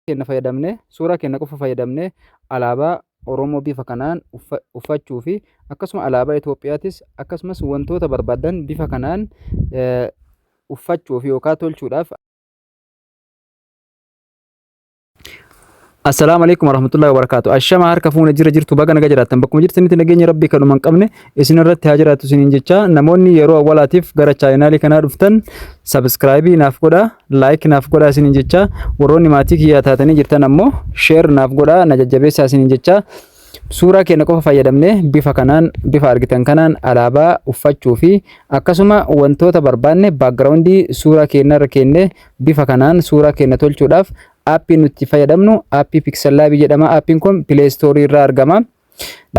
keenya fayyadamne suuraa keenya qofa fayyadamne alaabaa Oromoo bifa kanaan uffachuu fi akkasuma alaabaa Itoophiyaatis akkasumas wantoota barbaadan bifa kanaan uffachuuf yookaan tolchuudhaaf Assalaamu alaikum warahmatullahi wabarakatuh. Ashama harka fuuna jira jirtu baga naga jiraattan bakkuma jirtanitti nageenya rabbii kan hin qabne isin irratti haa jiraatu isiniin jecha namoonni yeroo awwalaatiif gara chaayinaalii kanaa dhuftan sabiskiraayibii naaf godha laayik naaf godha isiniin jecha warroonni maatii kiyyaa taatanii jirtan ammoo sheer naaf godha na jajjabeessaa isiniin jecha suuraa keenya qofa fayyadamne bifa kanaan bifa argitan kanaan alaabaa uffachuu fi akkasuma wantoota barbaanne baakgiraawundii suuraa keenya irra keenne bifa kanaan suuraa keenya tolchuudhaaf aappii nuti fayyadamnu aappii piksellaabii jedhama aappiin kun pileestoorii irraa argama.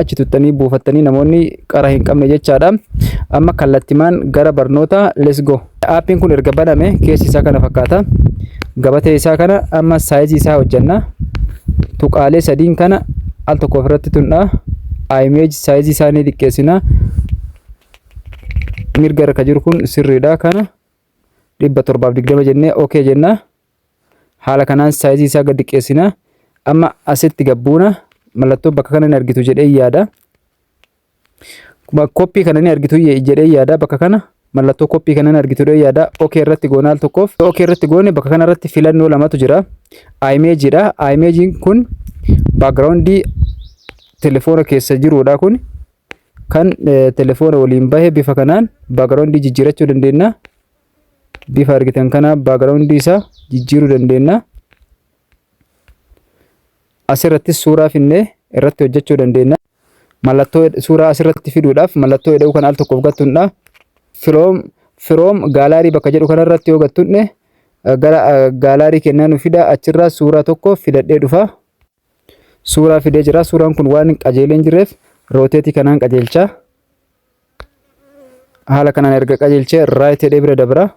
achi tuttanii buufattanii namoonni qara hin qabne jechaadha. Amma kallattimaan gara barnoota let's go. Aappiin kun erga baname keessi isaa kana fakkaata. Gabatee isaa kana amma saayizii isaa hojjanna. Tuqaalee sadiin kana al tokko ofirratti tundha. Image saayizii isaa ni xiqqeessina. Mirga irra jiru kun sirriidha kana dhibba torbaaf digdama jennee ok jenna. haala kanaan saayizii isaa gad xiqqeessina amma asitti gabbuuna mallattoo bakka kana ni argitu jedhee yaada koppii kana ni argitu jedhee yaada bakka kana mallattoo koppii kana ni argitu jedhee yaada okee irratti goona al tokkoof okee irratti goone bakka kana irratti filannoo lamatu jira imeejiidha imeejiin kun baakgiraawundii telefoona keessa jiruudha kun kan telefoona waliin bahe bifa kanaan baakgiraawundii jijjiirachuu dandeenya bifa argitan kana background isaa jijjiiruu dandeenya. Asirrattis suuraa finnee irratti hojjechuu dandeenya. Mallattoo suuraa asirratti fiduudhaaf mallattoo eda'uu kan al tokkoof gattuudha. Firoom firoom gaalaarii bakka jedhu kanarratti yoo gattuudne gara gaalaarii kennaa nu fida achirraa suuraa tokko filadhee dhufa. suuraa fidee jira. Suuraan kun waan hin qajeelee hin jirreef rooteetii kanaan qajeelcha. Haala kanaan erga qajeelchee raayit jedhee bira dabra.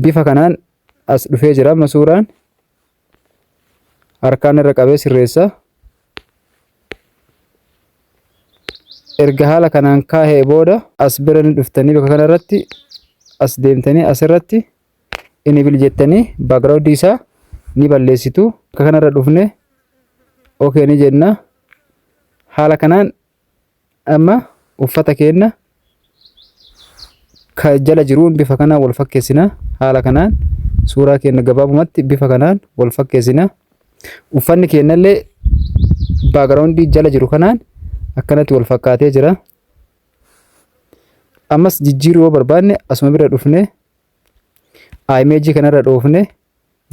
Bifa kanaan as dhufee jira amma suuraan harkaan irra qabee sirreessa. Erga haala kanaan kaa'ee booda as bira ni dhuftanii bakka kanarratti as deemtanii asirratti enable jettanii background isaa ni balleessitu akka kanarra dhufne okay ni jenna haala kanaan amma uffata keenna ka jala jiruun bifa kanaan wal fakkeessina haala kanaan suuraa keenna gabaabumatti bifa kanaan wal fakkeessina uffanni keennallee background jala jiru kanaan akkanatti wal fakkaatee jira ammas jijjiiruu yoo barbaanne asuma bira dhufne Imeejii kanarra dhoofne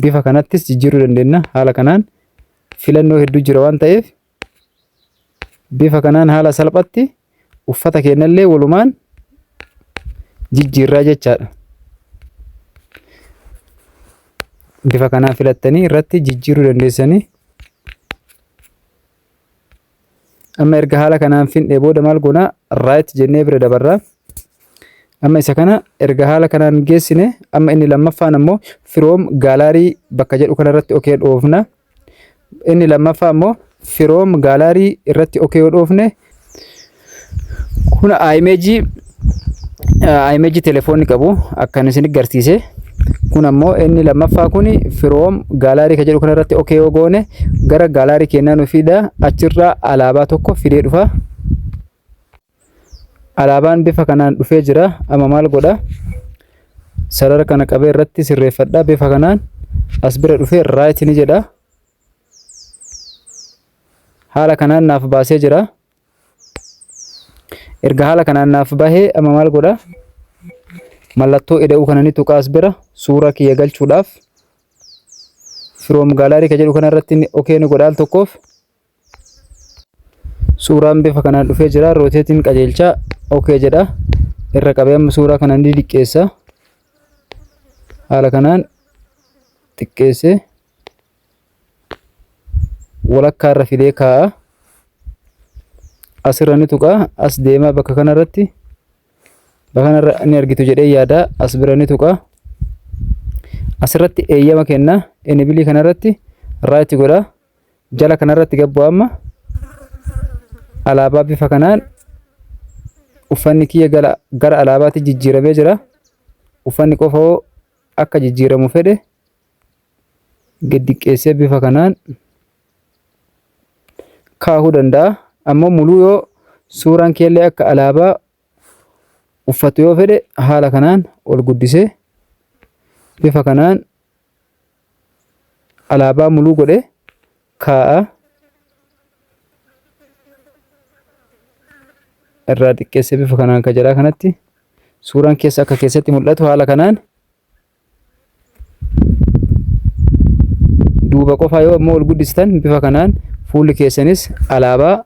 bifa kanattis jijjiiruu dandeenya. Haala kanaan filannoo hedduu jira waan ta'eef bifa kanaan haala salphatti uffata keenyallee walumaan jijjiirraa jechaadha. Bifa kanaan filattanii irratti jijjiiruu dandeessanii Amma erga haala kanaan fidnee booda maal goona? Right jennee bira dabarra. Amma isa kana erga haala kanaan geessine amma inni lammaffaan ammoo firoom gaalaarii bakka jedhu kanarratti okee dhoofna. Inni lammaffaa ammoo firoom gaalaarii irratti okee yoo dhoofne Kun imeejii imeejii telefoonni qabu akkan isin garsiise. Kun ammoo inni lammaffaa kun firoom gaalaarii kan jedhu kanarratti ok yoo goone gara gaalaarii keenyaa nu fida achirraa alaabaa tokko fidee dhufa. Alaabaan bifa kanaan dhufee jira. Amma maal godha? Sarara kana qabee irratti sirreeffadha. Bifa kanaan as bira dhufee raayit ni jedha. Haala kanaan naaf baasee jira. Erga haala kanaan naaf bahee amma maal godha? Mallattoo eda'uu kana ni tuqaas bira suuraa kiyya galchuudhaaf firoom gaalaarii ka jedhu kanarratti okee ni godhaal tokkoof suuraan bifa kanaan dhufee jira rooteetiin qajeelchaa okee jedha irra qabee amma suuraa kana ni diqqeessa haala kanaan xiqqeessee walakkaa irra fidee kaa'a. Asirra ni tuqa. As deemaa bakka kanarratti bakka kanarra ni argitu jedhee yaada. As bira ni tuqa. Asirratti eeyyama kenna. Enibilii kanarratti raayiti godha. Jala kanarratti gabbu amma alaabaa bifa kanaan uffanni kiyya gara alaabaatti jijjiiramee jira. Uffanni qofoo akka jijjiiramu fedhe gad diqqeessee bifa kanaan kaahuu danda'a. Ammoo muluu yoo suuraan keellee akka alaabaa uffatu yoo fedhe haala kanaan ol guddisee bifa kanaan alaabaa muluu godhe kaa'a. Irraa xiqqeessee bifa kanaan ka jalaa kanatti suuraan keessa akka keessatti mul'atu haala kanaan duuba qofaa yoo ammoo ol guddistan bifa kanaan fuulli keessanis alaabaa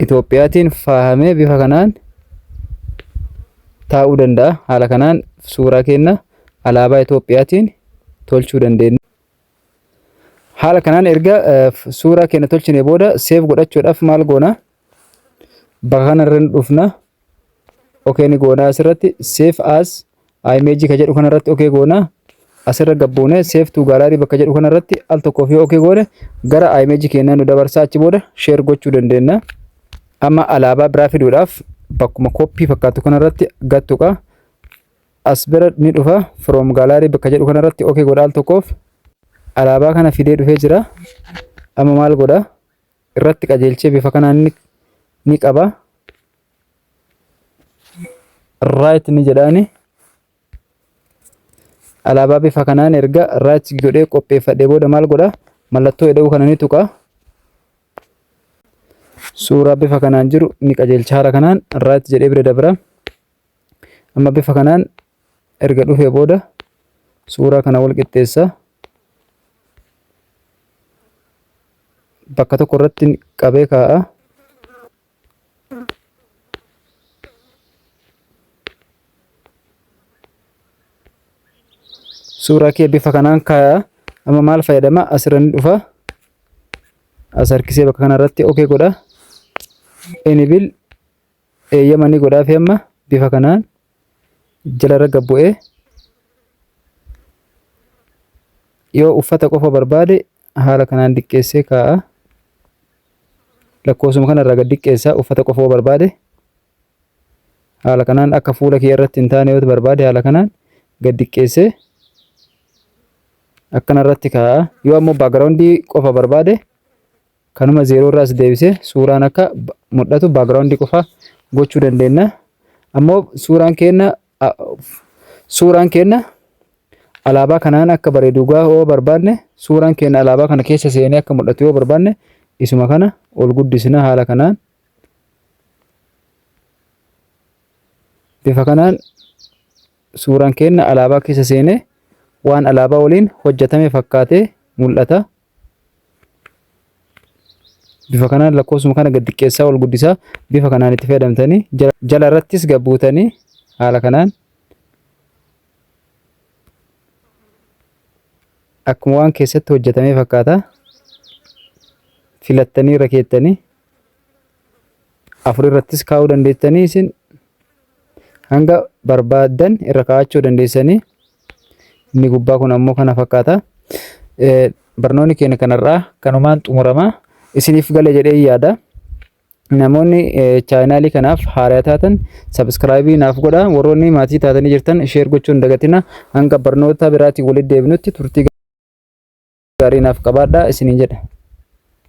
Itoophiyaatiin faahamee bifa kanaan taa'uu danda'a. Haala kanaan suuraa keenya alaabaa Itoophiyaatiin tolchuu dandeenya. Haala kanaan erga suuraa keenya tolchine booda seef godhachuudhaaf maal goona? Bakka kanarra ni dhufna. Okee ni goona asirratti save as image ka jedhu kanarratti okee goona. Asirra gabbuune save to gallery bakka jedhu kanarratti al tokkoof yoo okee goone gara image keenyaa nu dabarsaa achi booda share gochuu dandeenya. Amma alaabaa biraa fiduudhaaf bakkuma koppii fakkaatu kanarratti gattuqa. As bira ni dhufa from gallery bakka jedhu kanarratti okee godha al tokkoof. Alaabaa kana fidee dhufee jira. Amma maal godha? irratti qajeelchee bifa kanaan ni, ni qaba. Right ni jedhaani. Alaabaa bifa kanaan erga right godhee qopheeffadhee booda maal godha? Mallattoo eda'uu kana ni tuqa. Suuraa bifa kanaan jiru ni qajeelcha. Haala kanaan right jedhee bira dabra. Amma bifa kanaan erga dhufee booda suuraa kana wal qixxeessa bakka tokko irratti qabee kaa'a suuraa kee bifa kanaan kaa'a amma maal fayyadama asirra ni dhufa as harkisee bakka kana irratti ok godha enibil eeyyama ni godhaaf amma bifa kanaan jalarra gad bu'ee yoo uffata qofa barbaade haala kanaan diqqeessee kaa'a. Lakkoofsuma kanarraa gad diqqeessaa uffata qofa yoo barbaade haala kanaan akka fuula kee irratti hin taane yoo barbaade haala kanaan gad diqqeessee akkanarratti kaa'a. Yoo ammoo baagiraawundii qofa barbaade Kanuma zeeroo irraa as deebisee suuraan akka mul'atu background qofa gochuu dandeenya. Ammoo suuraan keenya suuraan keenya alaabaa kanaan akka bareedu gaa yoo barbaanne suuraan keenya alaabaa kana keessa seenee akka mul'atu yoo barbaanne isuma kana ol guddisna haala kanaan bifa kanaan suuraan keenya alaabaa keessa seenee waan alaabaa waliin hojjetame fakkaatee mul'ata. bifa kanaan lakkoofsuma kana gad xiqqeessaa ol guddisaa bifa kanaan itti fayyadamtanii jala irrattis gabbuutanii haala kanaan akkuma waan keessatti hojjetamee fakkaata filattanii irra keettanii afur irrattis kaa'uu dandeessanii isin hanga barbaadan irra kaa'achuu dandeessanii inni gubbaa kun ammoo kana fakkaata. Barnoonni keenya kanarraa kanumaan xumurama isiniif gale jedhee yaada. Namoonni chaayinaalii kanaaf haaraa taatan sabiskiraayibii naaf godha warroonni maatii taatanii jirtan sheer gochuun dagatina hanga barnoota biraatiin walitti deebinutti turtii gaarii naaf qabaadha isiniin jedha.